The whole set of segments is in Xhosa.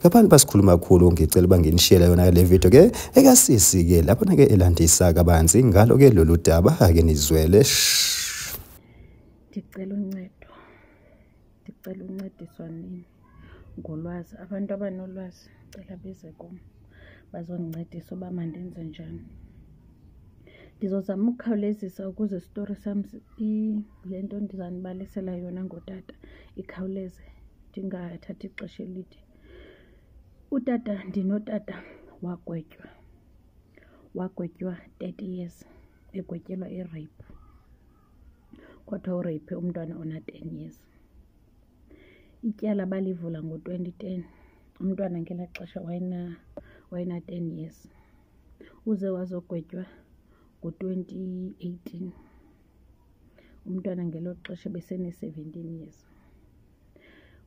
ngabantu basikhuluma kakhulu ngicela uba nginishiyele yona le video ke ekasisi ke lapho nake elandisa kabanzi ngalo ke lolu daba ake nizwele ndicela uncedo ndicela uncediswa nini ngolwazi abantu abanolwazi cela beze kum bazondincedisa uba mandenze njani ndizozama ukukhawulezisa ukuze isitori sam le nto ndizanibalisela yona ngotata ikhawuleze ndingathathi ixesha elide utata ndinotata wagwetywa wagwetywa thirty years egwetyelwa irape kwathiwa urape umntwana ona-ten years ityala balivula ngo-twenty ten umntwana ngelaa xesha wayena-ten years uze wazogwetywa ngo-twenty eighteen umntwana ngelo xesha besene-seventeen years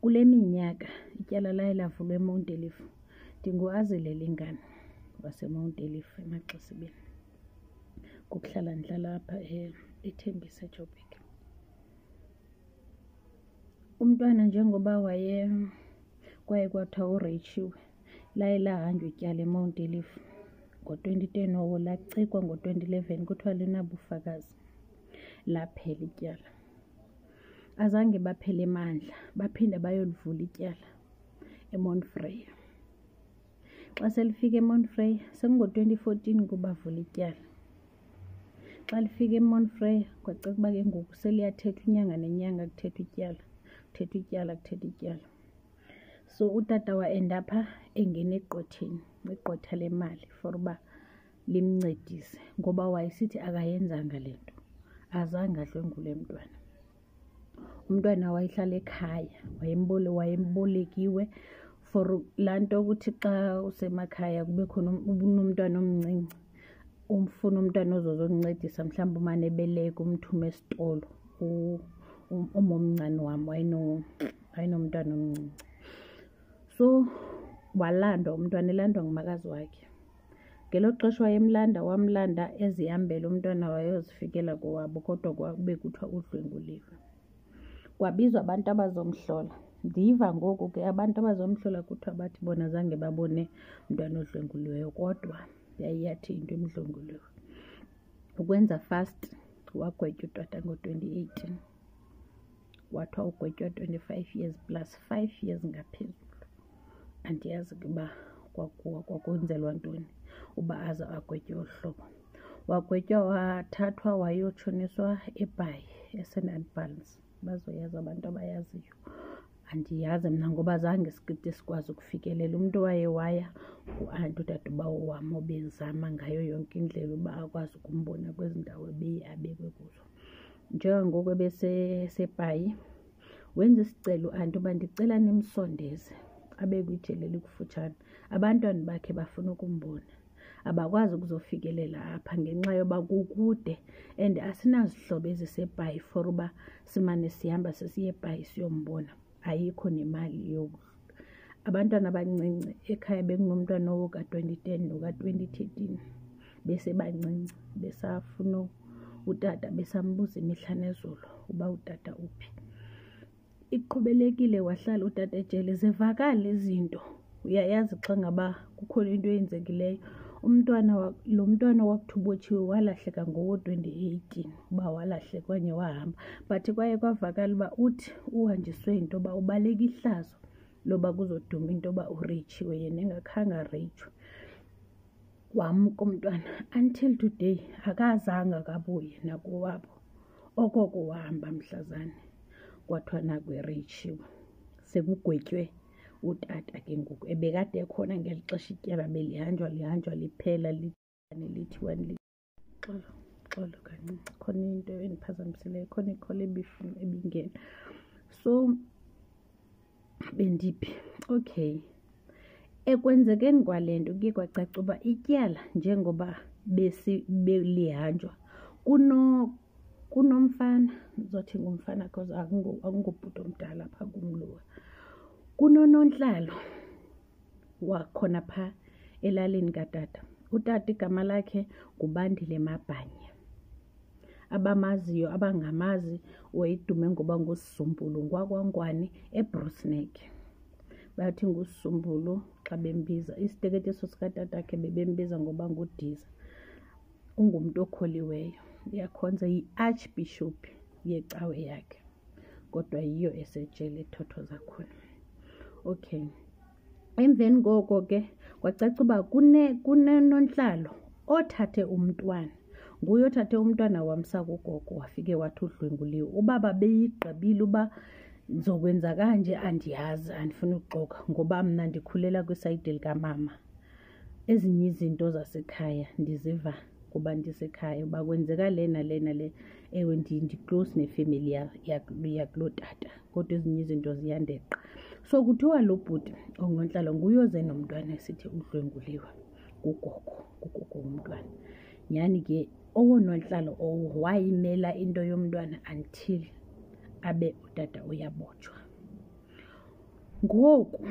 Kule minyaka ityala laye lavulwa eMount Elif. Ndinguazile Lingane waseMount Elif eMaxesibeni. Ngokuhlala ndihlala apha e-, eThembisa eJoburg. Umntwana njengoba waye kwaye kwathiwa ureyitsiwe laye lahanjwa ityala eMount Elif ngo-twenty ten or lacikwa ngo-twenty eleven kuthiwa linabufakazi laphela ityala. azange baphele emandla baphinde bayolivula ityala emonfreya xa selifika emonfreya sekungo-2014 kubavula ityala xa lifika emonfreya kwacaca uba ke ngoku seliyathethwa inyanga nenyanga kuthethwa ityala kuthethwa ityala kuthethwa ityala so utata waendapha engena egqotheni egqotha le mali for uba limncedise ngoba wayesithi akayenzanga le nto azange adlwengule mntwana umntwana wayehlala ekhaya wayembole wayembolekiwe for laa nto ukuthi xa usemakhaya kube khona um, unomntwana omncinci umfuna umntwana ozozokuncedisa mhlawumbi umane ebeleka umthume esitolo umomncane wam wayenomntwana omncinci so walandwa umntwana elandwa ngumakazi wakhe ngelo xesha wayemlanda wamlanda ezihambela umntwana wayozifikela kowabo kodwa kwakube kuthiwa udlwenguliwe kwabizwa abantu abazomhlola ndiva ngoku ke abantu abazomhlola kuthiwa bathi bona zange babone mntwana odlwenguliweyo kodwa yayiyathi into emdlwenguliwe ukwenza fast wagwetywa utata ngo-2018 wathi wawugwetywa 25 years plus 5 years ngaphezulu andiyazi ke uba kwakuwa kwakwenzelwa ntoni uba aze agwetywe olu hlobo wagwetywa wathathwa wayotshoniswa ebhayi esean advance bazoyazi abantu abayaziyo andiyazi mna ngoba zange sikide sikwazi ukufikelela umntu waye waya nguanti udadobawo wam obezama ngayo yonke indlela uba akwazi ukumbona kwezi ndawo ebeye abekwe kuzo njengangoku ebesepayi wenza isicelo anti uba ndicela nimsondeze abe kwijele likufutshane abantwana bakhe bafuna ukumbona abakwazi ukuzofikelela apha ngenxa yoba kukude and asinazihlobo ezisebhayi for uba simane sihamba sesiye ebhayi siyombona ayikho nemali yokuhlobo abantwana abancinci ekhaya bekunomntwana woka-twenty ten noka-twenty thirteen besebancinci besafuna utata besambuza imihla nezolo uba utata uphi iqhubelekile wahlala utata ejele zivakale izinto uyayazi xa ngaba kukhona into eyenzekileyo umntwana lo mntwana wakuthubotshiwe walahleka ngowo-2018 uba walahleka okanye wahamba but kwaye kwavakala uba uthi uhanjiswe yinto yoba ubaleka ihlazo loba kuzoduma into yoba uritshiwe yena engakhange aritshwe wamka umntwana until today akazanga akabuye nakowabo okoko wahamba mhlazane kwathiwa nakwiritshiwe sekugwetywe utata ke ngoku ebekade ekhona ngeli xesha ityala belihanjwa lihanjwa liphela lithane lithiwa xolo xolo kancinci khona into endiphazamiseleyo khona ikhola ebifuna ebingena so bendiphi okay ekwenzekeni kwale nto kuye kwacaca uba ityala njengoba belihanjwa kunomfana ndizothi ngumfana because akungubhuti omdala phaa kumlowa kunonontlalo wakhona phaa elalini katata utata igama lakhe ngubandile mabhanye abamaziyo abangamazi wayedume ngoba ngusizumbulu ngwakwankwane ebrusnek bathi ngusizumbulu xa bembiza isiteketeso sikatatakhe bebembiza ngoba ngudiza ungumntu okholiweyo uyakhonza yi-archbishop yecawe yakhe kodwa yiyo esejele ethotho zakhona okay emveni koko ke kwacaca uba kunenontlalo othathe umntwana nguye othathe umntwana wamsa kugogo wafike wathi udlwenguliwe ubaba beyigqibile uba ndizokwenza kanje andiyazi andifuni ukuxoka ngoba mna ndikhulela kwisayidi likamama ezinye izinto zasekhaya ndiziva kuba ndisekhaya uba kwenzeka le nale nale ewe ndi-close nefemeli yakuloo tata kodwa ezinye izinto ziyandeqa so kuthiwa lo bhuti ongontlalo nguye oze nomntwana esithi udlwenguliwe ngugogo ngugogo womntwana nyhani ke owonontlalo owo wayimela into yomntwana until abe utata uyabotshwa ngoku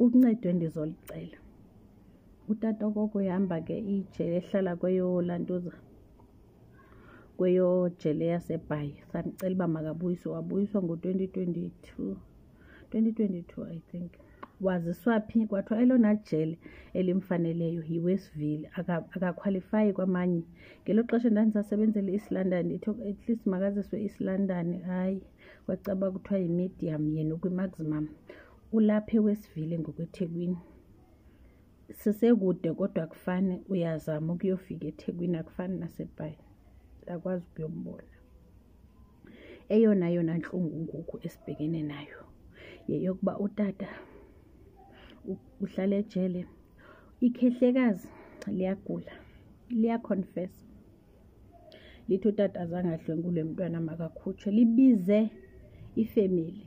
uncedwe ndizolicela utata okoko ihamba ke ijele ehlala kweyolantuza kweyojele yasebhayi samcela uba makabuyiswe wabuyiswa ngo-twenty twenty-two twenty twenty-two i think waziswa phi kwathiwa elona jele elimfaneleyo yiwestville akakhwalifayi aka kwamanye ngelo xesha ndandisasebenzela east london ithi at least makaziswe east london hayi kwacaba kuthiwa yimedium yena ukwimaximum ulapha ewesivile ngokwethekwini sisekude kodwa kufane uyazama ukuyofika ethekwini akufani nasebhayi akwazi ukuyombona eyona yona ntlungu ngoku esibhekene nayo yeyokuba utata uhlala ejele ikhehlekazi liyagula liyaconfesa lithi utata zange adlwengulwe mntwana makakhutshwe libize ifemeli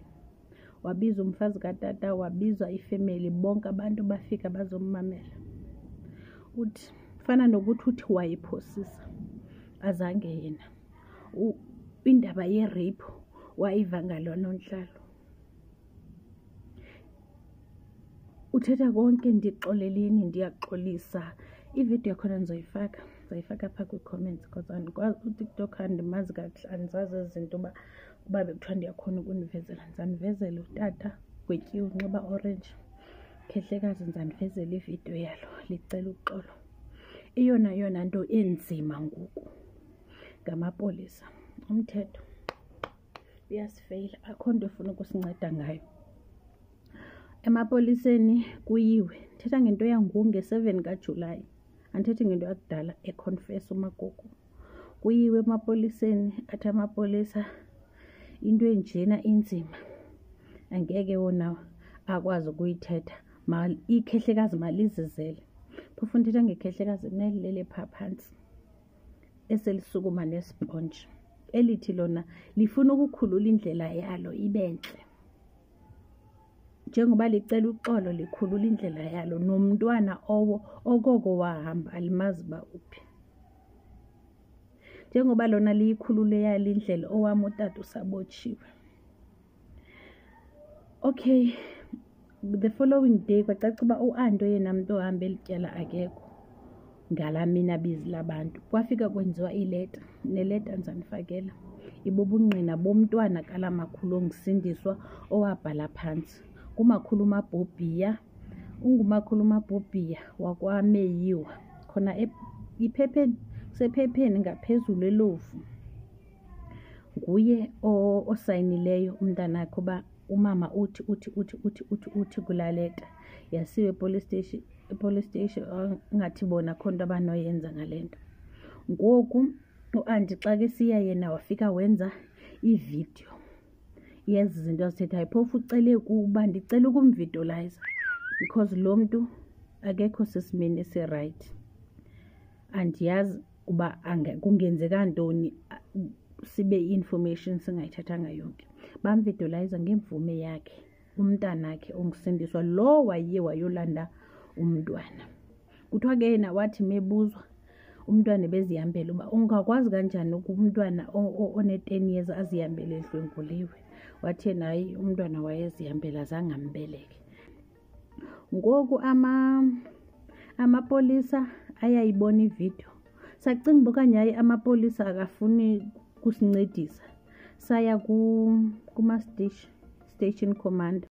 wabiza umfazi katata wabizwa ifemeli bonke abantu bafika bazommamela uthi fana nokuthi uthi wayephosisa azange yena indaba yerape wayiva ngalona ontlalo uthetha konke ndixoleleni ndiyaxolisa ividiyo yakhona ndizoyifaka ndizoyifaka apha kwii-comments because andikwazi utiktok andimazi kakuhle andizazi ezi zinto uba uba bekuthiwa ndiyakhona ukundivezela ndizandivezela utata gwetyiwe unxiba orange khehlekazi ndizandivezela ividiyo yalo licela uxolo eyona yona nto enzima ngoku ngamapolisa umthetho uyasifeyila akho nto efuna ukusinceda ngayo emapoliseni kuyiwe ndithetha ngento yangoku nge-seven kajulayi andithethi ngento yakudala econfesa umagogo kuyiwe emapoliseni athi amapolisa into enjena inzima angeke wona akwazi ukuyithetha ikhehlekazi malizizele phofu ndithetha ngekhehlekazi nelilele phaa phantsi eselisukuma nesponji elithi lona lifuna ukukhulula indlela yalo ibe ntle njengoba licela uxolo likhulula indlela yalo nomntwana owo okoko wahamba alimazi uba uphi njengoba lona liyikhulule yalo indlela owam utata usabotshiwe okay the following day kwacaca uba uanto yena mntu ohambe eli tyala akekho ngala mina bizi labantu kwafika kwenziwa ileta neleta ndizanifakela ibubungqina bomntwana kala makhulu ongisindiswa owabhala phantsi kumakhulu umabhobhiya ungumakhulu umabhobhiya wakwameyiwa khona e-, iphepheni sephepheni ngaphezulu elovu nguye osayinileyo umntanakhe uba umama uthi uthi uthi uthi uthi uthi kulaa leta yasiwe epolice station epolice station ingathi bona kho nto abanoyenza ngale nto ngoku uanti xa ke siya yena wafika wenza ividiyo yezi zinto azithethayo phofu ucele kuba ndicela ukumvidolayiza because lo mntu akekho sesimeni esirayithi andiyazi uba kungenzeka ntoni sibe i-information singayithathanga yonke bamvidolayiza ngemvume yakhe umntanakhe ongisindiswa lo waye wayolanda umntwana kuthiwa ke yena wathi mebuzwa umntwana bezihambele uba ungakwazi kanjani umntwana one-ten years azihambele edlwenguliwe wathi yena hayi umntwana wayezihambela zange ambeleke ngoku ama amapolisa ayayibona ividiyo sacinga uba okanye hayi amapolisa akafuni kusincedisa saya kuma-station station commander